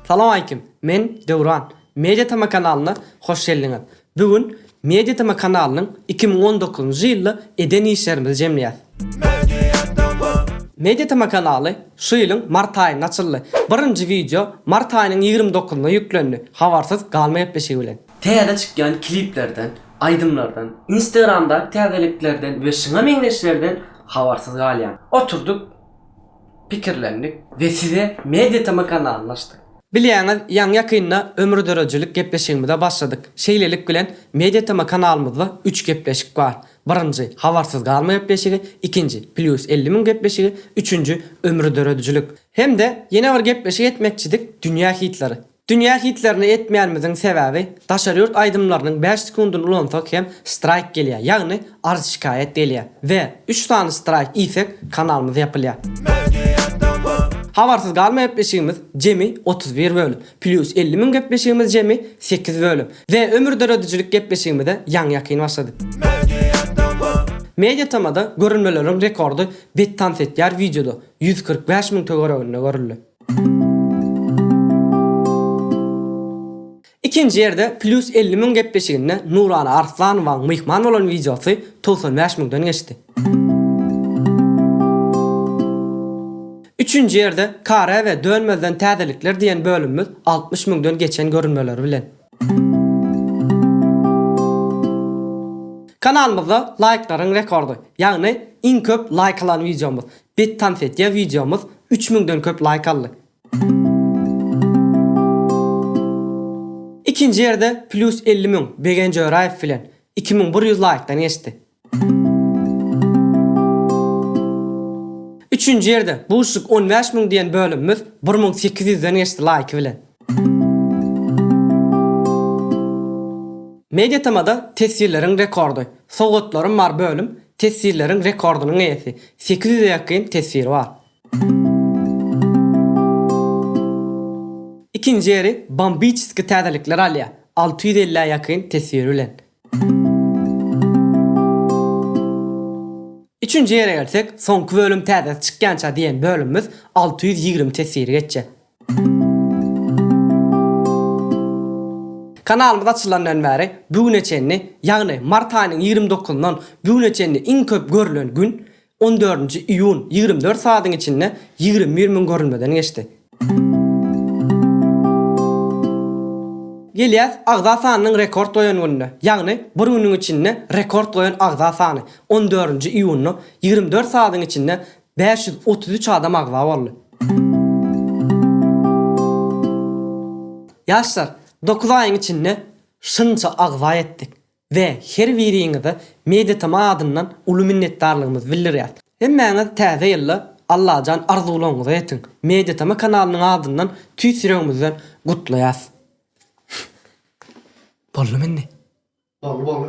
Salam aleýkim. Men Döwran. Media tm kanalyna hoş geldiňiz. Bu gün Media tm kanalynyň iki müň on dokuzynjy ýylda eden işlerimizi jemleýäs. Media tm kanaly şu ýylyň mart aýynda açyldy. Birinji wideo mart aýynyň ýigrimi dokuzynda ýüklendi. Habarsyz galma gepleşigi bilen. Täze çykýan kliplerden, aýdymlardan, Instagramdaky täzeliklerden we şuňa meňzeşlerden habarsyz galýan. Oturdyk, pikirlendik we size Media TM kanalyny açdyk. Bilýäňiz, ýaňy-ýakynda Ömür döredijilik gepleşigimize başladyk. Şeýlelik bilen, Media TM kanalymyzda üç gepleşik bar. Birinji, Habarsyz galma gepleşigi, ikinji, Plýus elli müň gepleşigi, üçünji, Ömür döredijilik. Hem-de ýene bir gepleşik etmekçidik, Dünýä hitlary. Dünýä hitlerini etmeýänimiziň sebäbi daşary ýurt aýdymlarynyň bäş sekundyny ulansak hem straýk gelýär, ýagny arz şikaýat gelýär we üç sany straýk iýsek kanalymyz ýapylýar. Habarsyz galma gepleşigimiz jemi otuz bir bölüm, plýus elli müň gepleşigimiz jemi sekiz bölüm we ömür döredijilik gepleşigimize ýaňy ýakyn başlady. Mediatm-da görülmeleriň rekordy bet tans etýär wideoda ýüz kyrk bäş müň töwereginde görüldi. Ikinji ýerde Plýus elli müň gepleşiginde Nurana Arslanowaň myhman bolan wideosy togsan bäş müňden geçdi. Üçünji ýerde Kare we Dönmezden täzelikler diýen bölümimiz altmyş müňden geçen görülmeleri bilen. Kanalymyzda laýklaryň rekordy, ýagny iň köp laýk alan wideomyz, Bet tans etýä wideomyz üç müňden köp laýk aldy. Ikinji ýerde plýus elli müň Begenç Öraýew bilen iki müň bir ýüz laýkdan geçdi. Üçünji ýerde Buşik on bäş müň diýen bölümimiz bir müň sekiz ýüzden geçdi laýky bilen. Media temada teswirleriň rekordy, Sowgatlarym bar bölüm teswirleriň rekordynyň eýesi, sekiz ýüze ýakyn teswiri bar. Ikinji ýeri Bombiçeski täzelikler alýar, alty ýüz elli ýakyn teswiri bilen. Üçünji ýere gelsek, Soňky bölüm täzesi çykýança diýen bölümimiz alty ýüz ýigrimi teswiri geçýär. Kanalymyz açylandan bäri bu güne çenli, ýagny mart aýynyň ýigrimi dokuzyndan bu güne çenli iň köp görülen gün, on dördünji iýun, ýigrimi dört sagadyň içinde ýigrimi bir müň görülmeden geçdi. Gelýäs agza sanynyň rekord goýan gününe, ýagny bir günüň içinde rekord goýan agza sany, on dördünji iýunda ýigrimi dört sagadyň içinde Bäş ýüz otuz üç adam agza boldy. Ýaşlar, dokuz aýyň içinde şunça agza etdik we her biriňize MediaTm adyndan uly minnetdarlygymyzy bildirýäs. Hemmäňiz täze ýylda Allajan arzuwlaryňyza ýetiň. MediaTm kanalynyň adyndan tüýs ýüregimizden gutlaýas. Boldumy indi? Boldy boldy.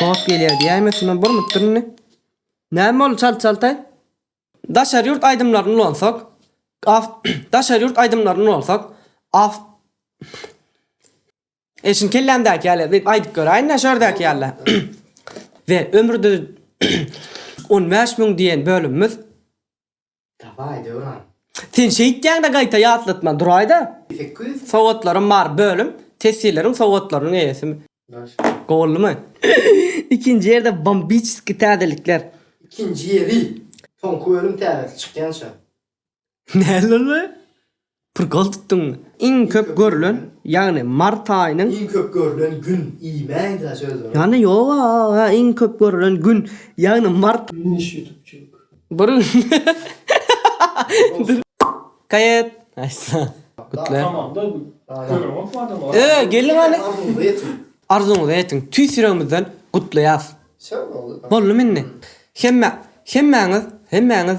Kod gelýär diýäýme şuna bir mütdir indi. Näme boldy çalt çaltaý? Daşary ýurt aýdymlaryny ulansak, af daşary ýurt aýdymlaryny ulansak, af Eşin kellämdäki ýaly edip aýdyp göräýin-dä şu ýerdäki ýaly. We ömürde 15 müň diýen bölümimiz Dawaý, Döwran. Sen şeýtýäň-de gaýta ýatlatma, duraý-da. Sekiz ýüz. Sowgatlarym bar, bölüm, tesjilleriň sowgatlarynyň eýesi. Daşka. Gowymy? Ikinji ýerde bombiçeskiý täzelikler. Ikinji ýeri. Soňky bölüm täzesi çykýança. Näl boldy? Prgoltdyň iň köp görülen, ýagny mart aýynyň. Iň köp görülen gün, iýmäýdä söz bar. Ýagny ýok a, a iň köp görülen gün, ýagny mart. Finiş ýutubçyk. Bir gün. Kaýat. Aýssa. Gutler. Öe gelin hany. Arzuňyzy etiň. Arzuňyzy etiň. Tüýs ýüregimizden gutlaýas. Boldumy indi. Hemme, hemmäňiz, hemmäňiz.